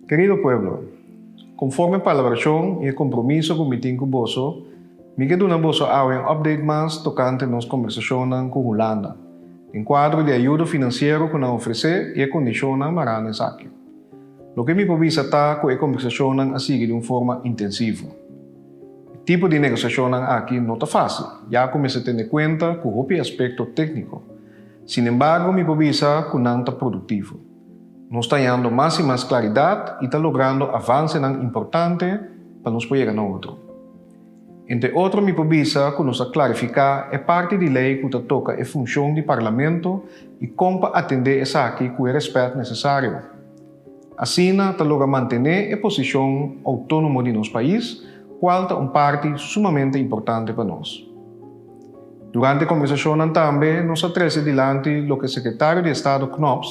Kerido pueblo, konforme e palabrashon i e kompromiso ku mi tin ku boso, mi ke duna boso awe un update mas tokante nos kombersashonnan ku Hulanda, den kuadro di ayudo finansiero ku nan ofresé i e kondishonnan mará na esaki. Loke mi por bisa ta ku e kombersashonnan a sigui di un forma intensivo. E tipo di negosiashonnan aki no ta fásil. Ya a kuminsá tende kuenta ku hopi aspekto tékniko. Sinembargo, mi por bisa ku nan ta produktivo. Nos ta hañando mas i mas klaridat i ta logrando avansenan importante pa nos por yega na otro. Entre otro mi por bisa ku nos a klarifiká e parti di lei ku ta toka e funshon di parlamento i kon pa atendé esaki ku e rèspèt nesesario. Asina ta logra mantené e posishon outónomo di nos pais, kual ta un parti sumamente importante pa nos. Durante e kombersashonnan tambe nos a trese dilanti loke Sekretario di Estado Knops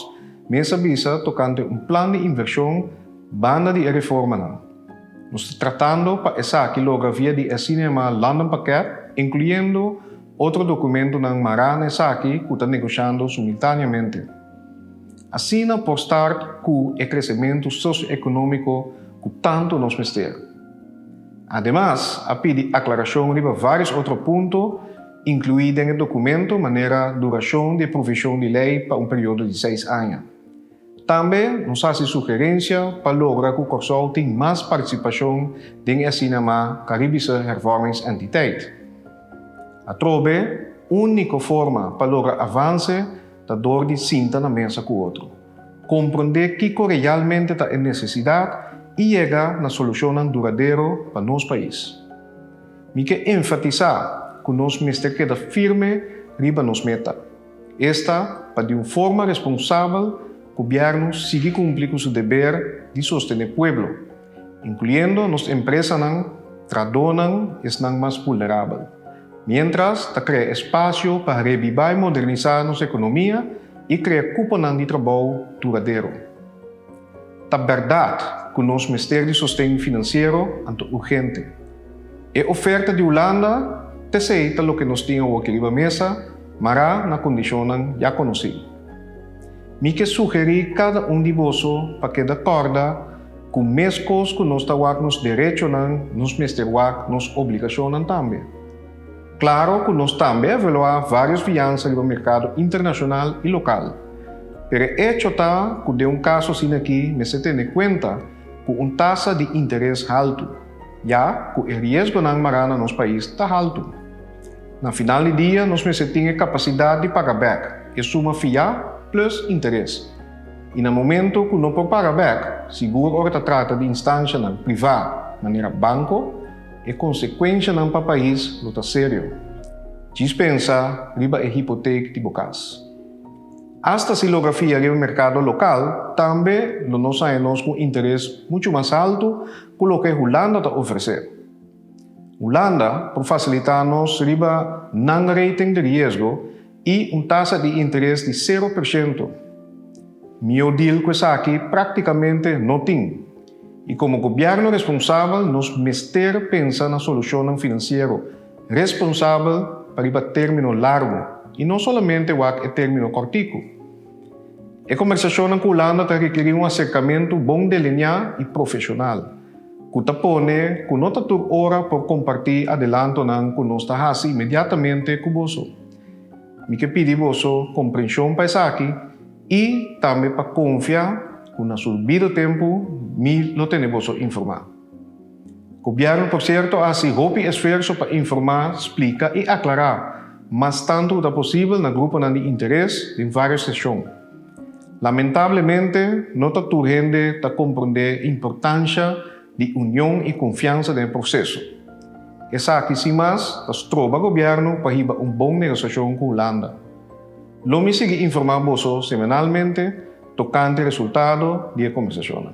mes a bisa tokante un plan di invershon banda di e reformanan. Nos ta tratando pa esaki logra via di e asina yamá London Pakèt, inkluyendo otro dokumentonan mará na esaki ku ta negoshiando sumiltáneamente. Asina por start cu e crecementu socio-economico cu tanto nos mester. Ademas a pidi aclaracion riba varios otro punto inclui den e documento manera duracion di e provision di ley pa un periodo di seis aña. Tambe nos haci sugerencia pa logra cu Corsou tin mas participacion den e asina ma Caribische Hervormingsentiteit. Atrobe unico forma pa logra avance ta dor di sinta na mesa ku otro, komprondé kiko realmente ta e nesesidat i yega na solushonnan duradero pa nos pais. Mi ke enfatisá ku nos mester keda firme riba nos meta, esta pa di un forma responsabel Gobièrnu sigui kumpli ku su deber di sostené pueblo, incluyendo nos empresanan, tradonan y esnan mas vulnerabel, mientras ta crea espacio pa rebiba y modernisa nos economia y crea cuponan di trabou duradero. Ta berdad cu nos mester di sosten financiero anto urgente. E oferta di Hulanda p'esey ta loke nos tin awor aki riba mesa, mará na condicionnan ya conoci. Mi ke sugeri cada un di boso pa keda corda, Ku meskos ku nos ta wak nos derechonan, nos mester wak nos obligashonnan tambe. Klaro ku nos tambe a evaluá vários fiansa riba merkado internashonal i lokal. Pero e echo ta ku den un kaso asina akí mester tene kuenta ku un tasa di interes haltu, ya ku e riesgonan mará na nos pais ta haltu. Na final di dia nos mester tin e kapasidat di paga bèk e suma fiá plus interes. i na momento ku no por paga bèk, sigur ora ta trata di instanshanan privá manera banko, e konsekuenshanan pa pais lo ta serio. Djis pensa riba e hipotek di bo kas. Asta si logra fia riba merkado lokal tambe lo nos haña nos ku un interes muchu mas haltu ku loke Hulanda ta ofresé. Hulanda por fasilitá nos riba nan rating di riesgo i un tasa di interes di sero per shento. Mihó dil ku esaki práktikamente no tin, i komo gobièrnu responsabel nos mester pensa na solushonnan finansiero responsabel pa riba término largu i no solamente wak e término kòrtiku. E kombersashonnan ku Hulanda ta rikeri un aserkamentu bon deliniá i profeshonal, ku ta pone ku no ta tur ora por kompartí adelantonan ku nos ta hasi inmediatamente ku boso. Mi ke pidi boso komprenshon pa esaki i tambe pa konfia ku na su bido tempu mi lo tene boso informá. Gobièrnu por sierto a hasi hopi esfuerso pa informá, splika i aklará mas tantu ku ta posibel na gruponan di interes den vários seshon. Lamentablemente, no ta tur hende ta komprondé importansha di union i konfiansa den e proseso. Esaki sin mas ta stroba gobièrnu pa hiba un bon negosiashon ku Hulanda. Lo mi sigui informá boso semanalmente tokante resultado di e kombersashonnan.